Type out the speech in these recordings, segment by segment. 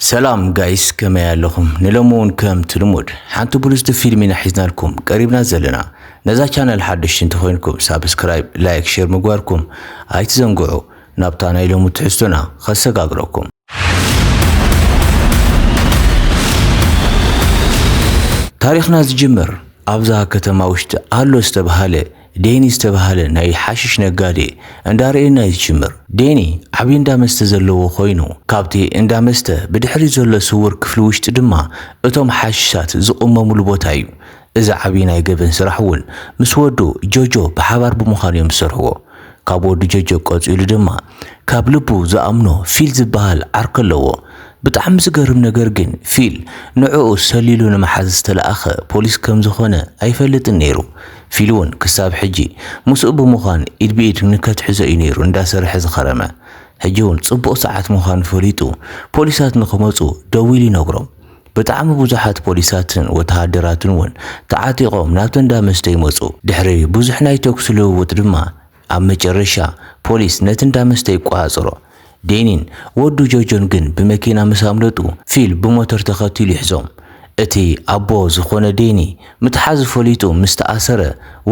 ሰላም ጋይስ ከመይ ኣለኹም? ንሎሚ እውን ከምቲ ልሙድ ሓንቲ ብልጽቲ ፊልም ኢና ሒዝናልኩም ቀሪብና ዘለና። ነዛ ቻነል ሓደሽቲ እንተኾይንኩም ሳብስክራይብ፣ ላይክ፣ ሼር ምግባርኩም ኣይትዘንግዑ። ናብታ ናይ ሎሚ ትሕዝቶና ከሰጋግረኩም። ታሪኽና ዝጅምር ኣብዛ ከተማ ውሽጢ ኣሎ ዝተብሃለ ዴኒ ዝተብሃለ ናይ ሓሽሽ ነጋዴ እንዳርኤና እዩ ዝጅምር። ዴኒ ዓብዪ እንዳ መስተ ዘለዎ ኮይኑ ካብቲ እንዳ መስተ ብድሕሪት ዘሎ ስውር ክፍሊ ውሽጢ ድማ እቶም ሓሽሻት ዝቕመሙሉ ቦታ እዩ። እዚ ዓብዪ ናይ ገበን ስራሕ እውን ምስ ወዱ ጆጆ ብሓባር ብምዃን እዮም ዝሰርሕዎ። ካብ ወዱ ጆጆ ቀፂሉ ድማ ካብ ልቡ ዝኣምኖ ፊል ዝበሃል ዓርኪ ኣለዎ። ብጣዕሚ ዝገርም ነገር ግን ፊል ንዕኡ ሰሊሉ ንምሓዝ ዝተለኣኸ ፖሊስ ከም ዝኾነ ኣይፈልጥን ነይሩ። ፊል እውን ክሳብ ሕጂ ምስኡ ብምዃን ኢድ ብኢድ ንከትሕዞ እዩ ነይሩ እንዳሰርሐ ዝኸረመ። ሕጂ እውን ፅቡቕ ሰዓት ምዃኑ ፈሊጡ ፖሊሳት ንክመፁ ደዊሉ ይነግሮም። ብጣዕሚ ብዙሓት ፖሊሳትን ወተሃደራትን እውን ተዓጢቖም ናብቲ እንዳ መስተ ይመፁ። ድሕሪ ብዙሕ ናይ ተኩሲ ልውውጥ ድማ ኣብ መጨረሻ ፖሊስ ነቲ እንዳ መስተ ይቆጻጸሮ። ዴኒን ወዱ ጆርጆን ግን ብመኪና ምስ ኣምለጡ ፊል ብሞተር ተኸቲሉ ይሕዞም። እቲ ኣቦ ዝኾነ ዴኒ ምትሓዙ ፈሊጡ ምስ ተኣሰረ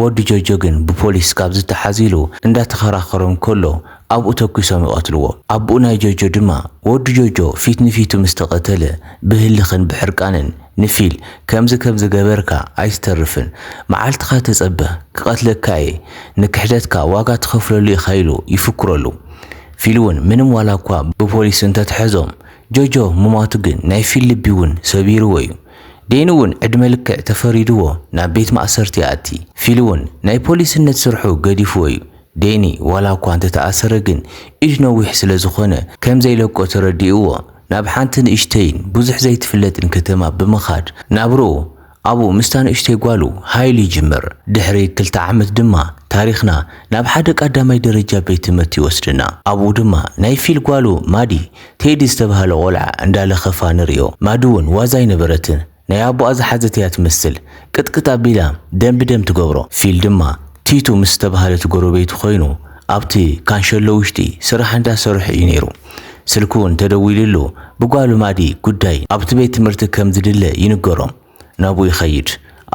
ወዱ ጆርጆ ግን ብፖሊስ ካብ ዝተሓዝ ኢሉ እንዳተኸራኸሮም ከሎ ኣብኡ ተኩሶም ይቐትልዎ። ኣቡኡ ናይ ጆርጆ ድማ ወዱ ጆርጆ ፊት ንፊቱ ምስ ተቐተለ ብህልኽን ብሕርቃንን ንፊል ከምዚ ከምዚ ገበርካ ኣይትተርፍን መዓልትኻ ተጸበ ክቀትለካ እየ ንክሕደትካ ዋጋ ትኸፍለሉ ኢኻ ኢሉ ይፍክረሉ ፊል ውን ምንም ዋላ እኳ ብፖሊስ እንተትሐዞም ጆርጆ ምሟቱ ግን ናይ ፊል ልቢ ውን ሰቢርዎ እዩ ዴኒ ውን ዕድመ ልክዕ ተፈሪድዎ ናብ ቤት ማእሰርቲ ይኣቲ ፊል ውን ናይ ፖሊስነት ስርሑ ገዲፍዎ እዩ ዴኒ ዋላ እኳ እንተተኣሰረ ግን ኢድ ነዊሕ ስለዝኾነ ከምዘይለቆ ተረዲእዎ ናብ ሓንቲ ንእሽተይን ብዙሕ ዘይትፍለጥን ከተማ ብምኻድ ናብርኡ ኣብኡ ምስታ ንእሽተይ ጓሉ ሃይል ይጅምር። ድሕሪ ክልተ ዓመት ድማ ታሪኽና ናብ ሓደ ቃዳማይ ደረጃ ቤት ትምህርቲ ይወስደና። ኣብኡ ድማ ናይ ፊል ጓሉ ማዲ፣ ቴዲ ዝተባህለ ቆልዓ እንዳለኸፋ ንርእዮ። ማዲ ውን ዋዛ ኣይነበረትን። ናይ ኣቦኣ ዝሓዘት እያ ትመስል ቅጥቅጥ ኣቢላ ደም ብደም ትገብሮ። ፊል ድማ ቲቱ ምስ ዝተባህለት ጎረቤቱ ኮይኑ ኣብቲ ካንሸሎ ውሽጢ ስራሕ እንዳ ሰርሑ እዩ ነይሩ። ስልኪ ውን ተደዊልሉ ብጓሉ ማዲ ጉዳይ ኣብቲ ቤት ትምህርቲ ከም ዝድለ ይንገሮ ናብኡ ይኸይድ።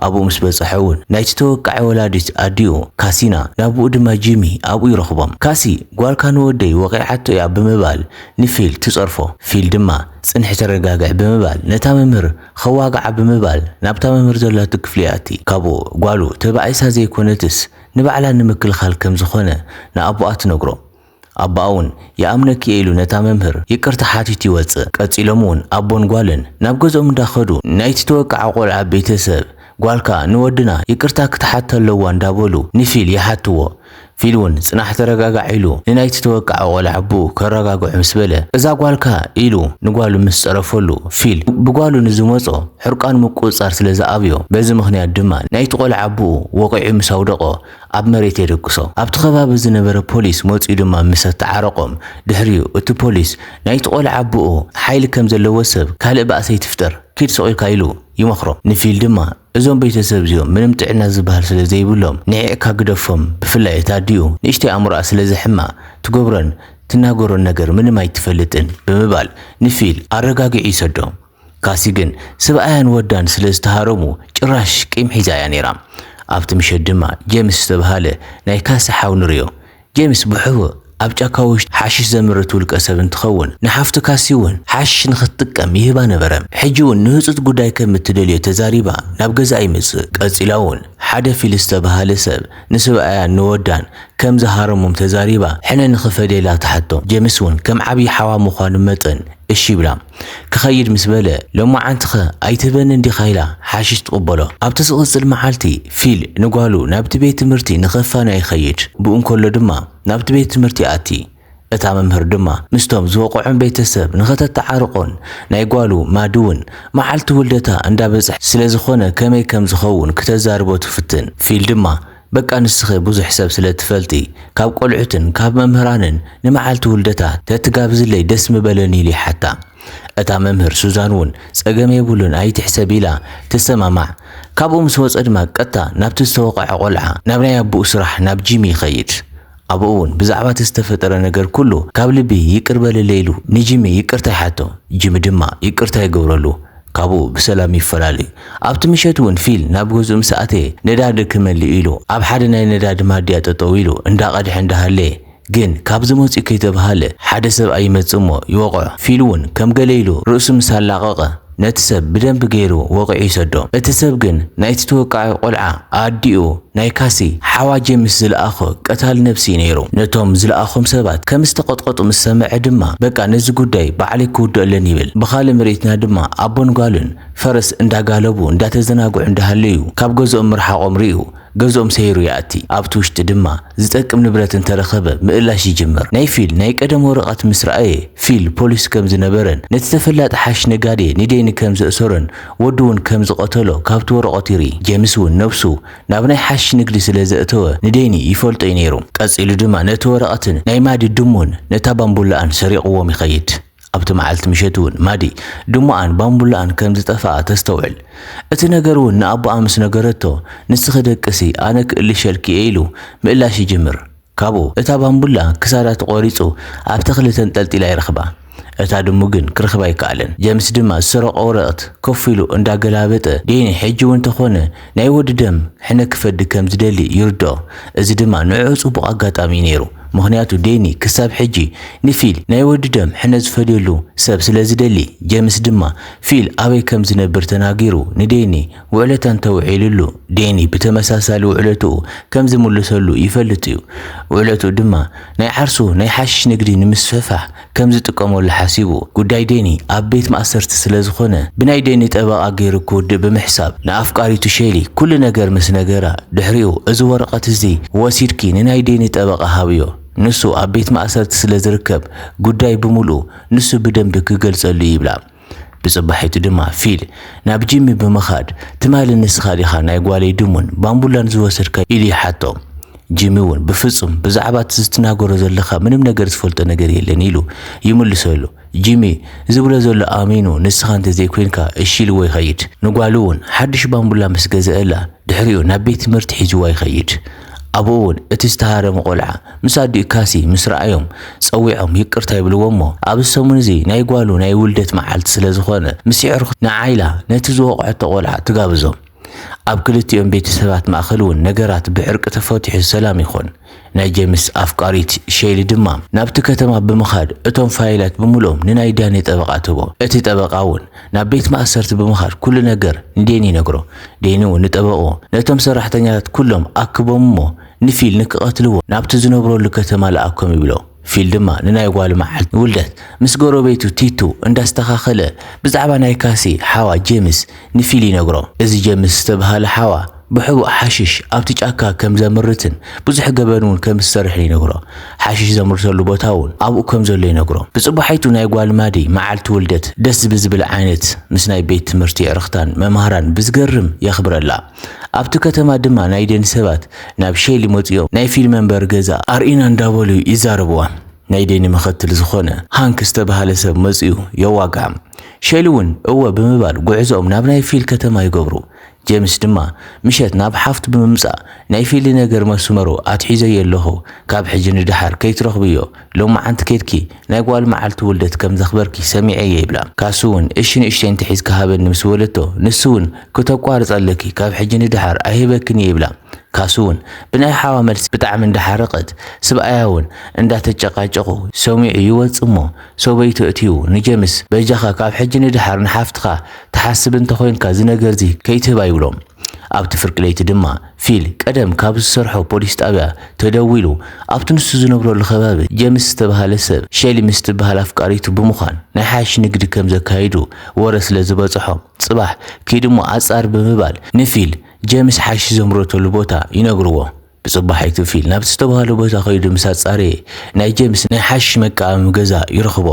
ኣብኡ ምስ በጸሐ ውን ናይቲ ተወቃዒ ወላዲት ኣዲኡ ካሲና ናብኡ ድማ ጂሚ ኣብኡ ይረኽቦም። ካሲ ጓልካ ንወደይ ወቒዓቶ እያ ብምባል ንፊል ትጸርፎ። ፊል ድማ ጽንሒ ተረጋግዒ ብምባል ነታ መምህር ኸዋግዓ ብምባል ናብታ መምህር ዘላቶ ክፍሊ ይኣቲ ካብኡ ጓሉ ተባኢሳ ዘይኮነትስ ንባዕላ ንምክልኻል ከም ዝኾነ ንኣቦኣ ትነግሮ ኣቦኣ ውን ይኣምነኪ እየ ኢሉ ነታ መምህር ይቅርታ ሓቲቱ ይወጽእ ቀጺሎም ውን ኣቦን ጓልን ናብ ገዝኦም እንዳኸዱ ናይቲ ተወቃዒ ቆልዓ ቤተሰብ ጓልካ ንወድና ይቅርታ ክትሓቶ ኣለዋ እንዳበሉ ንፊል ይሓትዎ ፊል እውን ጽናሕ ተረጋጋዕ ኢሉ ንናይቲ ዝተወቅዐ ቆልዓ ኣቦኡ ከረጋግዖ ምስ በለ፣ እዛ ጓልካ ኢሉ ንጓሉ ምስ ጸረፈሉ፣ ፊል ብጓሉ ንዝመጾ ሕርቃኑ ምቁጽጻር ስለ ዝኣብዮ፣ በዚ ምኽንያት ድማ ናይቲ ቆልዓ ኣቦኡ ወቒዑ ምስ ኣውደቖ ኣብ መሬት የደቅሶ። ኣብቲ ከባቢ ዝነበረ ፖሊስ መጺኡ ድማ ምስ ኣተዓረቖም ድሕሪኡ እቲ ፖሊስ ናይቲ ቆልዓ ኣቦኡ ሓይሊ ከም ዘለዎ ሰብ ካልእ ባእሲ ኣይትፍጠር ኪድ ስቕ ኢልካ ኢሉ ይመኽሮ። ንፊል ድማ እዞም ቤተሰብ እዚኦም ምንም ጥዕና ዝብሃል ስለ ዘይብሎም ንዒቕካ ግደፎም ብፍላይ እታ ኣዲኡ ንእሽተይ ኣእምሮኣ ስለ ዝሕማ ትገብሮን ትናገሮን ነገር ምንም ኣይትፈልጥን ብምባል ንፊል ኣረጋጊዑ ይሰዶ ካሲ ግን ስብኣያን ወዳን ስለ ዝተሃረሙ ጭራሽ ቂም ሒዛ እያ ነይራ ኣብቲ ምሸት ድማ ጀምስ ዝተብሃለ ናይ ካሲ ሓው ንሪኦ ጀምስ ብሕቡእ ኣብ ጫካ ውሽጢ ሓሽሽ ዘምርት ውልቀ ሰብ እንትኸውን፣ ንሓፍቱ ካሲ እውን ሓሽሽ ንኽትጥቀም ይህባ ነበረ። ሕጂ እውን ንህጹጽ ጉዳይ ከም እትደልዮ ተዛሪባ ናብ ገዛኣ ይመጽእ። ቀጺላ እውን ሓደ ፊል ዝተበሃለ ሰብ ንስብኣያን ንወዳን ከም ዝሃረሞም ተዛሪባ ሕነ ንኽፈድየላ ትሓቶ። ጀምስ እውን ከም ዓብዪ ሓዋ ምዃኑ መጠን እሺ ይብላ። ክኸይድ ምስ በለ፣ ሎማዓንቲኸ ኣይትህበንን ዲኻ ኢላ ሓሽሽ ትቕበሎ። ኣብቲ ዝቕጽል መዓልቲ፣ ፊል ንጓሉ ናብቲ ቤት ትምህርቲ ንኸፋንያ ይኸይድ። ብኡ እንከሎ ድማ ናብቲ ቤት ትምህርቲ ይኣቲ። እታ መምህር ድማ ምስቶም ዝወቕዖም ቤተሰብ ንኸተተዓርቖን ናይ ጓሉ ማድውን መዓልቲ ውልደታ እንዳበጽሐ ስለዝኾነ ከመይ ከም ዝኸውን ክተዛርቦ ትፍትን። ፊል ድማ በቃ ንስኺ ብዙሕ ሰብ ስለ ትፈልጢ ካብ ቆልዑትን ካብ መምህራንን ንመዓልቲ ውልደታ ተትጋብዝለይ ደስ ምበለኒ ኢሉ ይሓታ። እታ መምህር ሱዛን ውን ጸገም የብሉን ኣይትሕሰቢ ኢላ ትሰማማዕ። ካብኡ ምስ ወጸ ድማ ቀጥታ ናብቲ ዝተወቐዐ ቆልዓ ናብ ናይ ኣቡኡ ስራሕ ናብ ጂሚ ይኸይድ። ኣብኡ እውን ብዛዕባ እቲ ዝተፈጠረ ነገር ኩሉ ካብ ልቢ ይቅር በልለይ ኢሉ ንጂሚ ይቅርታ ይሓቶ። ጂሚ ድማ ይቅርታ ይገብረሉ። ካብኡ ብሰላም ይፈላለዩ። ኣብቲ ምሸት እውን ፊል ናብ ገዝኡ ምስ ኣተየ ነዳዲ ክመልእ ኢሉ ኣብ ሓደ ናይ ነዳዲ ማድያ ጠጠው ኢሉ እንዳቀድሐ እንዳሃለየ ግን ካብ ዝመፅኡ ከይተብሃለ ሓደ ሰብኣይ ይመፅእ እሞ ይወቅዖ። ፊል እውን ከም ገለ ኢሉ ርእሱ ምስ ኣላቀቀ። ነቲ ሰብ ብደንቢ ገይሩ ወቒዑ ይሰዶ። እቲ ሰብ ግን ናይቲ ተወቃዒ ቆልዓ ኣዲኡ ናይ ካሲ ሓዋ ጀምስ ዝለኣኾ ቀታሊ ነብሲ እዩ ነይሩ። ነቶም ዝለኣኾም ሰባት ከም ዝተቐጥቀጡ ምስ ሰመዐ ድማ በቃ ነዚ ጉዳይ ባዕለይ ክውድኦ ኣለኒ ይብል። ብኻልእ ምርኢትና ድማ ኣቦን ጓልን ፈረስ እንዳጋለቡ እንዳተዘናግዑ እንዳሃለዩ ካብ ገዝኦም ምርሓቖም ሪኡ ገዝኦም ሰይሩ ይኣቲ፣ ኣብቲ ውሽጢ ድማ ዝጠቅም ንብረት እንተረኸበ ምእላሽ ይጅምር። ናይ ፊል ናይ ቀደም ወረቐት ምስ ረኣየ፣ ፊል ፖሊስ ከም ዝነበረን ነቲ ተፈላጢ ሓሽሽ ነጋዴ ኒዴኒ ከም ዘእሰሮን ወዱ እውን ከም ዝቐተሎ ካብቲ ወረቐት ይርኢ። ጄምስ እውን ነብሱ ናብ ናይ ሓሽሽ ንግዲ ስለ ዘእተወ ንዴኒ ይፈልጦ እዩ ነይሩ። ቀጺሉ ድማ ነቲ ወረቐትን ናይ ማዲ ድሙን ነታ ባምቡላኣን ሰሪቕዎም ይኸይድ። ኣብቲ መዓልቲ ምሸት እውን ማዲ ድሙኣን ባምቡላኣን ከም ዝጠፍኣ ተስተውዕል። እቲ ነገር እውን ንኣቦኣ ምስ ነገረቶ፣ ንስኺ ደቅሲ ኣነ ክእልሸልኪ እየ ኢሉ ምእላሽ ይጅምር። ካብኡ እታ ባምቡላ ክሳዳ ተቖሪጹ ኣብ ተኽሊ ተንጠልጢላ ይረኽባ። እታ ድሙ ግን ክረኽባ ኣይከኣለን። ጀምስ ድማ ዝሰረቖ ወረቕት ኮፍ ኢሉ እንዳገላበጠ፣ ዴኒ ሕጂ እውን ተኾነ፣ ናይ ወዲ ደም ሕነ ክፈዲ ከም ዝደሊ ይርድኦ፣ እዚ ድማ ንዕዑ ጽቡቕ ኣጋጣሚ እዩ ነይሩ፣ ምኽንያቱ ዴኒ ክሳብ ሕጂ ንፊል ናይ ወዲ ደም ሕነ ዝፈድየሉ ሰብ ስለ ዝደሊ፣ ጄምስ ድማ ፊል ኣበይ ከም ዝነብር ተናጊሩ ንዴኒ ውዕለታ እንተ ውዒሉሉ ዴኒ ብተመሳሳሊ ውዕለትኡ ከም ዝምልሰሉ ይፈልጥ እዩ፣ ውዕለትኡ ድማ ናይ ዓርሱ ናይ ሓሽሽ ንግዲ ንምስፍሕፋሕ ከም ዝጥቀመሉ ሓሲቡ። ጉዳይ ዴኒ ኣብ ቤት ማእሰርቲ ስለ ዝኾነ፣ ብናይ ዴኒ ጠበቓ ገይሩ ክውድእ ብምሕሳብ፣ ንኣፍቃሪቱ ሼሊ ኩሉ ነገር ምስ ነገራ፣ ድሕሪኡ እዚ ወረቐት እዚ ወሲድኪ ንናይ ዴኒ ጠበቓ ሃብዮ፣ ንሱ ኣብ ቤት ማእሰርቲ ስለ ዝርከብ ጉዳይ ብምሉኡ ንሱ ብደንቢ ክገልጸሉ'ዩ ይብላ። ብጽባሒቱ ድማ ፊል ናብ ጂሚ ብምኻድ ትማሊ ንስኻ ዲኻ ናይ ጓለይ ድሙን ባምቡላን ዝወሰድካ ኢሉ ይሓቶ። ጂሚ እውን ብፍጹም ብዛዕባ እቲ ዝትናገሮ ዘለኻ ምንም ነገር ዝፈልጦ ነገር የለን ኢሉ ይምልሰሉ። ጂሚ ዝብሎ ዘሎ ኣሚኑ ንስኻ እንተዘይኮይንካ እሺ ኢልዎ ይኸይድ። ንጓሉ እውን ሓድሽ ባምቡላ ምስ ገዘኣላ ድሕሪኡ ናብ ቤት ትምህርቲ ሒዝዋ ይኸይድ። ኣብኡ እውን እቲ ዝተሃረመ ቆልዓ ምስ ኣዲኡ ካሲ ምስ ረኣዮም ጸዊዖም ይቅርታ ይብልዎ እሞ ኣብዚ ሰሙን እዚ ናይ ጓሉ ናይ ውልደት መዓልቲ ስለ ዝኾነ ምስ የዕርኹታ ንዓይላ ነቲ ዝወቕዐቶ ቆልዓ ትጋብዞም። ኣብ ክልቲኦም ቤተሰባት ማእኸል እውን ነገራት ብዕርቂ ተፈቲሑ ሰላም ይኾን። ናይ ጀምስ ኣፍቃሪት ሼሊ ድማ ናብቲ ከተማ ብምኻድ እቶም ፋይላት ብምሉኦም ንናይ ዳኒ ጠበቓ ትህቦ። እቲ ጠበቓ እውን ናብ ቤት ማእሰርቲ ብምኻድ ኩሉ ነገር ንዴኒ ይነግሮ። ዴኒ እውን ንጠበቕኡ ነቶም ሰራሕተኛታት ኩሎም ኣክቦም እሞ ንፊል ንክቐትልዎ ናብቲ ዝነብረሉ ከተማ ልኣኮም ይብሎ። ፊል ድማ ንናይ ጓሉ መዓልቲ ውልደት ምስ ጎረቤቱ ቲቱ እንዳስተኻኸለ ብዛዕባ ናይ ካሲ ሓዋ ጄምስ ንፊል ይነግሮ። እዚ ጄምስ ዝተብሃለ ሓዋ ብሕቡእ ሓሽሽ ኣብቲ ጫካ ከም ዘምርትን ብዙሕ ገበን እውን ከም ዝሰርሕን ይነግሮ። ሓሽሽ ዘምርተሉ ቦታ እውን ኣብኡ ከም ዘሎ ይነግሮ። ብጽባሒቱ ናይ ጓል ማዲ መዓልቲ ውልደት ደስ ብዝብል ዓይነት ምስ ናይ ቤት ትምህርቲ ኣዕርኽታን መማህራን ብዝገርም የኽብረላ። ኣብቲ ከተማ ድማ ናይ ደን ሰባት ናብ ሼሊ መጺኦም ናይ ፊልም መንበሪ ገዛ ኣርእይና እንዳበሉ ይዛረብዋ። ናይ ደኒ መኸትል ዝኾነ ሃንክ ዝተባህለ ሰብ መጺኡ የዋግዓም። ሼሊ እውን እወ ብምባል ጉዕዞኦም ናብ ናይ ፊል ከተማ ይገብሩ። ጀምስ ድማ ምሸት ናብ ሓፍቱ ብምምጻእ ናይ ፊሊ ነገር መስመሩ ኣትሒዘዮ ኣለኹ ካብ ሕጂ ንደሓር ከይትረኽብዮ ሎምዓንቲ ኬድኪ ናይ ጓል መዓልቲ ውልደት ከም ዘኽበርኪ ሰሚዐ እየ ይብላ ካሱ ውን እሺ ንእሽተይ እንተሒዝካ ሃበኒ ምስ በለቶ ንሱ ውን ክተቋርጺ ኣለኪ ካብ ሕጂ ንደሓር ኣይህበክን እየ ይብላ ካሱ ውን ብናይ ሓዋ መልሲ ብጣዕሚ እንዳሓረቀት ስብኣያ ውን እንዳተጨቃጨቁ ሰሚዑ ይወጽእ እሞ ሰበይቱ ኣእትዩ ንጀምስ በጃኻ ካብ ሕጂ ንደሓር ንሓፍትኻ ትሓስብ እንተ ኾይንካ እዚ ነገርዚ ከይትህባ ይብሎ። ኣብቲ ፍርቂ ለይቲ ድማ ፊል ቀደም ካብ ዝሰርሖ ፖሊስ ጣብያ ተደዊሉ ኣብቲ ንሱ ዝነብረሉ ከባቢ ጀምስ ዝተብሃለ ሰብ ሸሊ ምስ ትብሃል ኣፍቃሪቱ ብምዃን ናይ ሓሽሽ ንግዲ ከም ዘካይዱ ወረ ስለ ዝበፀሖ ፅባሕ ኪድሞ ኣፃር ብምባል ንፊል ጀምስ ሓሽሽ ዘምረተሉ ቦታ ይነግርዎ። ብጽባሒይ ክፍል ናብቲ ዝተባህሎ ቦታ ከይዱ ምስ ኣጻረየ፣ ናይ ጀምስ ናይ ሓሽሽ መቃኣሚ ገዛ ይረኽቦ።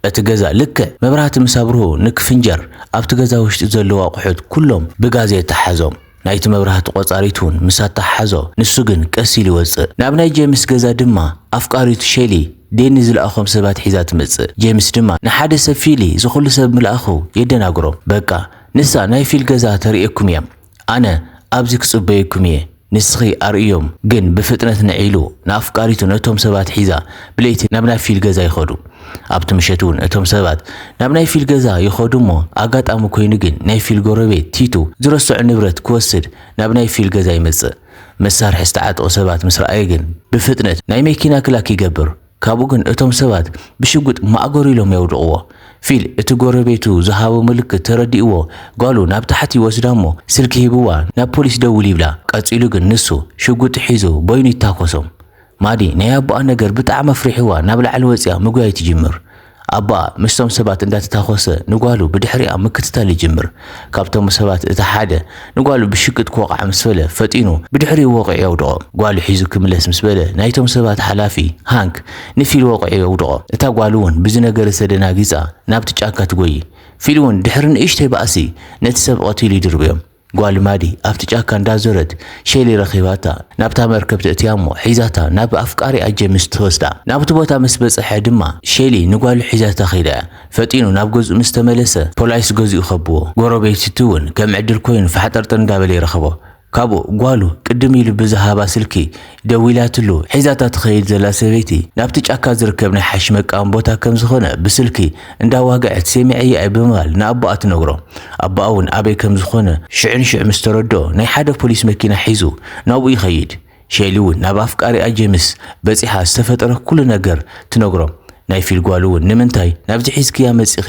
እቲ ገዛ ልክዕ መብራህቲ ምስ ኣብርሁ ንክፍንጀር፣ ኣብቲ ገዛ ውሽጢ ዘለዉ ኣቑሑት ኩሎም ብጋዝ የተሓሓዞም። ናይቲ መብራህቲ ቆጻሪት'ውን ምስ ኣተሓሓዞ፣ ንሱ ግን ቀስ ኢሉ ይወጽእ። ናብ ናይ ጀምስ ገዛ ድማ ኣፍቃሪቱ ሸሊ፣ ዴኒ ዝለኣኾም ሰባት ሒዛ ትመጽእ። ጀምስ ድማ ንሓደ ሰብ ፊሊ ዝኹሉ ሰብ ምልኣኹ የደናግሮም። በቃ ንሳ ናይ ፊል ገዛ ተርእየኩም እያም። ኣነ ኣብዚ ክጽበየኩም እየ፣ ንስኺ ኣርእዮም። ግን ብፍጥነት ንዕ ኢሉ፣ ንኣፍቃሪቱ ነቶም ሰባት ሒዛ ብለይቲ ናብ ናይ ፊል ገዛ ይኸዱ። ኣብቲ ምሸት እውን እቶም ሰባት ናብ ናይ ፊል ገዛ ይኸዱ እሞ ኣጋጣሚ ኮይኑ ግን ናይ ፊል ጎረቤት ቲቱ ዝረሰዖ ንብረት ክወስድ ናብ ናይ ፊል ገዛ ይመጽእ። መሳርሒ ዝተዓጠቑ ሰባት ምስ ረኣየ ግን ብፍጥነት ናይ መኪና ክላክ ይገብር። ካብኡ ግን እቶም ሰባት ብሽጉጥ ማእገሩ ኢሎም የውድቕዎ። ፊል እቲ ጎረቤቱ ዝሃቦ ምልክት ተረዲእዎ ጓሉ ናብ ታሕቲ ይወስዳ እሞ ስልኪ ሂብዋ ናብ ፖሊስ ደውል ይብላ። ቀጺሉ ግን ንሱ ሽጉጥ ሒዙ በይኑ ይታኮሶም። ማዲ ናይ ኣቦኣ ነገር ብጣዕሚ ኣፍሪሕዋ ናብ ላዕሊ ወጺኣ ምጉያይ ትጅምር። ኣቦኣ ምስቶም ሰባት እንዳተታኾሰ ንጓሉ ብድሕሪኣ ምክትታል ይጅምር። ካብቶም ሰባት እቲ ሓደ ንጓሉ ብሽግጥ ክወቕዓ ምስ በለ ፈጢኑ ብድሕሪኡ ወቒዑ የውድቖ። ጓሉ ሒዙ ክምለስ ምስ በለ ናይቶም ሰባት ሓላፊ፣ ሃንክ፣ ንፊል ወቒዑ የውድቖ። እታ ጓል'ውን ብዚ ነገር'ዚ ተደናጊጻ ናብቲ ጫካ ትጎዪ። ፊል'ውን ድሕሪ ንእሽተይ ባእሲ ነቲ ሰብ ቐቲሉ ይድርብዮም። ጓል ማዲ ኣብቲ ጫካ እንዳዞረት ሼሊ ረኺባታ ናብታ መርከብ ተእትያ እሞ ሒዛታ ናብ ኣፍቃሪኣ ጀምስ ትወስዳ። ናብቲ ቦታ ምስ በጸሐ ድማ ሼሊ ንጓሉ ሒዛታ ከይዳ። ፈጢኑ ናብ ገዝኡ ምስ ተመለሰ ፖላይስ ገዝኡ ከብዎ። ጎረቤቲቲ እውን ከም ዕድል ኮይኑ ፋሕጠርጥር እንዳበለ ይረኽቦ። ካብኡ ጓሉ ቅድም ኢሉ ብዝሃባ ስልኪ ደዊላትሉ ሒዛታ ትኸይድ ዘላ ሰበይቲ ናብቲ ጫካ ዝርከብ ናይ ሓሺሽ መቃም ቦታ ከም ዝኾነ ብስልኪ እንዳዋግዐት ሴሚዐያ'የ ብምባል ንኣቦኣ ትነግሮ። ኣቦኣ'ውን ኣበይ ከም ዝኾነ ሽዑ ንሽዑ ምስ ተረድኦ ናይ ሓደ ፖሊስ መኪና ሒዙ ናብኡ ይኸይድ። ሼሊ'ውን ናብ ኣፍቃሪኣ ጀምስ በጺሓ ዝተፈጠረ ኩሉ ነገር ትነግሮም። ናይ ፊል ጓል'ውን ንምንታይ ናብዚ ሒዝክያ መጺኺ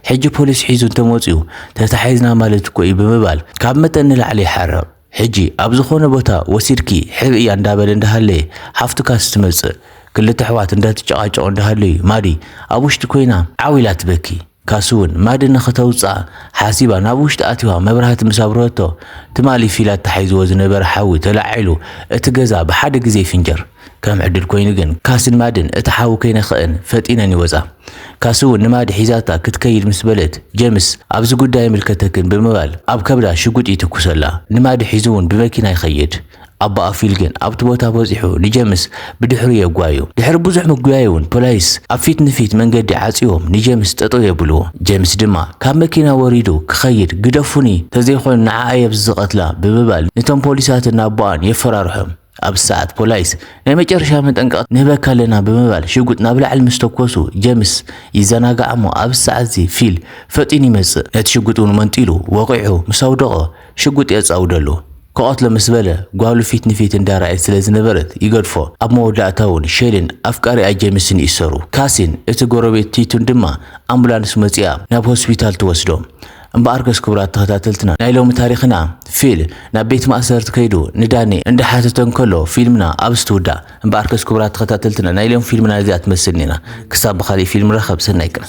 ሕጂ ፖሊስ ሒዙ እንተመጺኡ ተታሒዝና ማለት እኮ'ዩ ብምባል ካብ መጠን ንላዕሊ ይሓርቕ። ሕጂ ኣብ ዝኾነ ቦታ ወሲድኪ ሕብእያ እንዳበለ እንዳሃለየ ሓፍቱካስ ትመጽእ ክልተ ኣሕዋት እንዳትጨቃጨቁ እንዳሃለዩ ማዲ ኣብ ውሽጢ ኮይና ዓው ኢላ ትበኪ ካሱ ውን ማዲ ንኽተውጽኣ ሓሲባ ናብ ውሽጢ ኣቲዋ መብራህቲ ምስ ኣብርሀቶ ትማሊ ፊላት ተሓይዝዎ ዝነበረ ሓዊ ተላዒሉ እቲ ገዛ ብሓደ ግዜ ይፍንጀር ከም ዕድል ኮይኑ ግን ካስን ማድን እታ ሓዊ ከይነኸኣን ፈጢነን ይወጻ። ካሲ እውን ንማድ ሒዛታ ክትከይድ ምስ በለት ጀምስ ኣብዚ ጉዳይ ኣይምልከተክን ብምባል ኣብ ከብዳ ሽጉጥ ይትኩሰላ። ንማድ ሒዙ እውን ብመኪና ይኸይድ። ኣቦኣ ፊል ግን ኣብቲ ቦታ በጺሑ ንጀምስ ብድሕሩ የጓዩ። ድሕሪ ብዙሕ ምጉያይ እውን ፖላይስ ኣብ ፊት ንፊት መንገዲ ዓጽዮም ንጀምስ ጠጠው የብልዎ። ጀምስ ድማ ካብ መኪና ወሪዱ ክኸይድ ግደፉኒ ተዘይኮይኑ ንዓኣ እየ ኣብዚ ዝቐትላ ብምባል ንቶም ፖሊሳትን ኣቦኣን የፈራርሖም። ኣብዚ ሰዓት ፖላይስ ናይ መጨረሻ መጠንቀቕታ ንህበካ ኣለና ብምባል ሽጉጥ ናብ ላዕሊ ምስ ተኮሱ ጀምስ ይዘናጋዕ እሞ ኣብዚ ሰዓትዚ ፊል ፈጢኑ ይመጽእ ነቲ ሽጉጥ እውን መንጢሉ ወቒዑ ምስ ኣውደቖ ሽጉጥ የጻውደሉ ክቐትሎ ምስ በለ ጓሉ ፊት ንፊት እንዳረኣየት ስለ ዝነበረት ይገድፎ ኣብ መወዳእታ እውን ሼሊን ኣፍቃሪኣ ጀምስን ይእሰሩ ካሲን እቲ ጎረቤት ቲቱን ድማ ኣምቡላንስ መጺኣ ናብ ሆስፒታል ትወስዶም እምበኣርከስ ክቡራት ተኸታተልትና ናይ ሎሚ ታሪኽና ፊል ናብ ቤት ማእሰርቲ ከይዱ ንዳኒ እንዳሓተተ እንከሎ ፊልምና ኣብዚ ትውዳእ። እምበኣርከስ ክቡራት ተኸታተልትና ናይ ሎሚ ፊልምና ነዚኣ ትመስል ኔራ ክሳብ ብኻሊእ ፊልም ንራኸብ ሰናይ ቅነ።